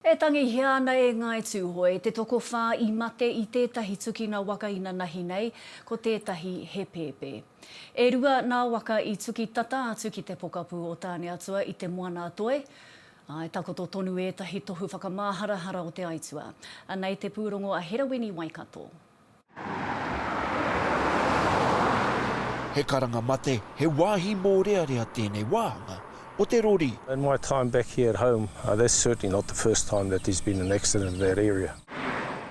E tangihia ana e Ngāi Tūhoe te tokowhā i mate i tētahi tukina waka inanahi nei, ko tētahi he pēpē. E rua nā waka i tuki tata atu ki te pokapū o Tāneatua i Te Moana-a-Toi, ā, e takoto tonu ētahi tohu whakamāharahara o te aituā. Anei te pūrongo a Herawini Waikato. He karanga mate, he wāhi mōrearea tēnei wāhanga o te rori. In my time back here at home, that's certainly not the first time that there's been an accident in that area.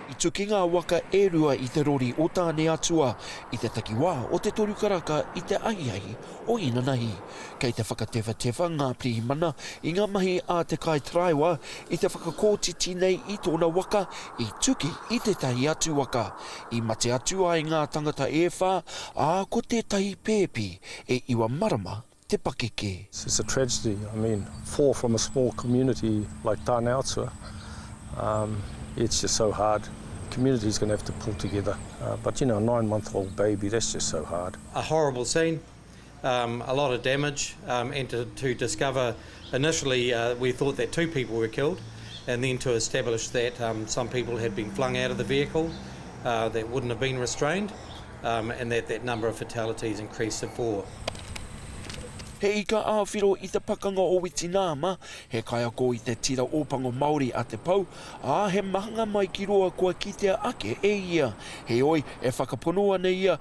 I tuki ngā waka e rua i te rori o Tāne Atua i te takiwā o Te Toru Karaka i te ahiahi o Inanahi. Kei te whakatewhatewha ngā pirihimana i ngā mahi a te kaitaraiwa i te whakakotiti nei i tōna waka i tuki i tētahi atu waka i mate atu ai ngā tangata e whā, ā, ko tētahi pēpi e iwa marama te pakeke. It's a tragedy, I mean, four from a small community like Tāne Atua, um, it's just so hard, community's going to have to pull together, uh, but you know, a nine month old baby, that's just so hard. A horrible scene, a lot of damage and to to discover initially we thought that two people were killed and then to establish that some people had been flung out of the vehicle that wouldn't have been restrained and that that number of fatalities increased to four. He ika āwhiro i te pakanga o Witinama, he kaiako i te tira Ōpango Māori a Te Pou, ā, he mahanga mai ki roa kua kitea ake e ia. Heoi, e whakapono ana ia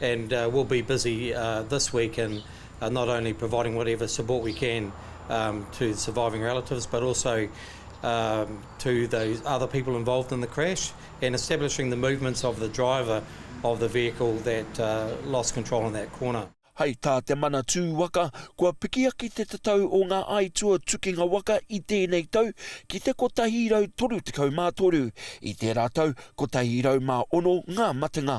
and we'll be busy this week in not only providing whatever support we can to the surviving relatives but also to the other people involved in the crash and establishing the movements of the driver of the vehicle that lost control in that corner. Hei tā Te Manatū Waka, kua pikiaki te tatau o ngā aituā tukinga waka i tēnei tau ki te 133, i tērā tau 106 ngā matenga.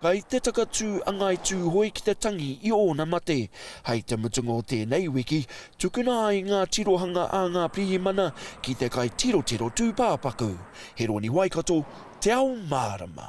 Kai te takatū a Ngāi Tūhoe ki te tangi i ōna mate. Hai te mutunga o tēnei wiki, tukuna ai ngā tirohanga a ngā pirihimana ki te kai tirotiro tūpāpaku. Heroni Waikato, Te Ao Mārama.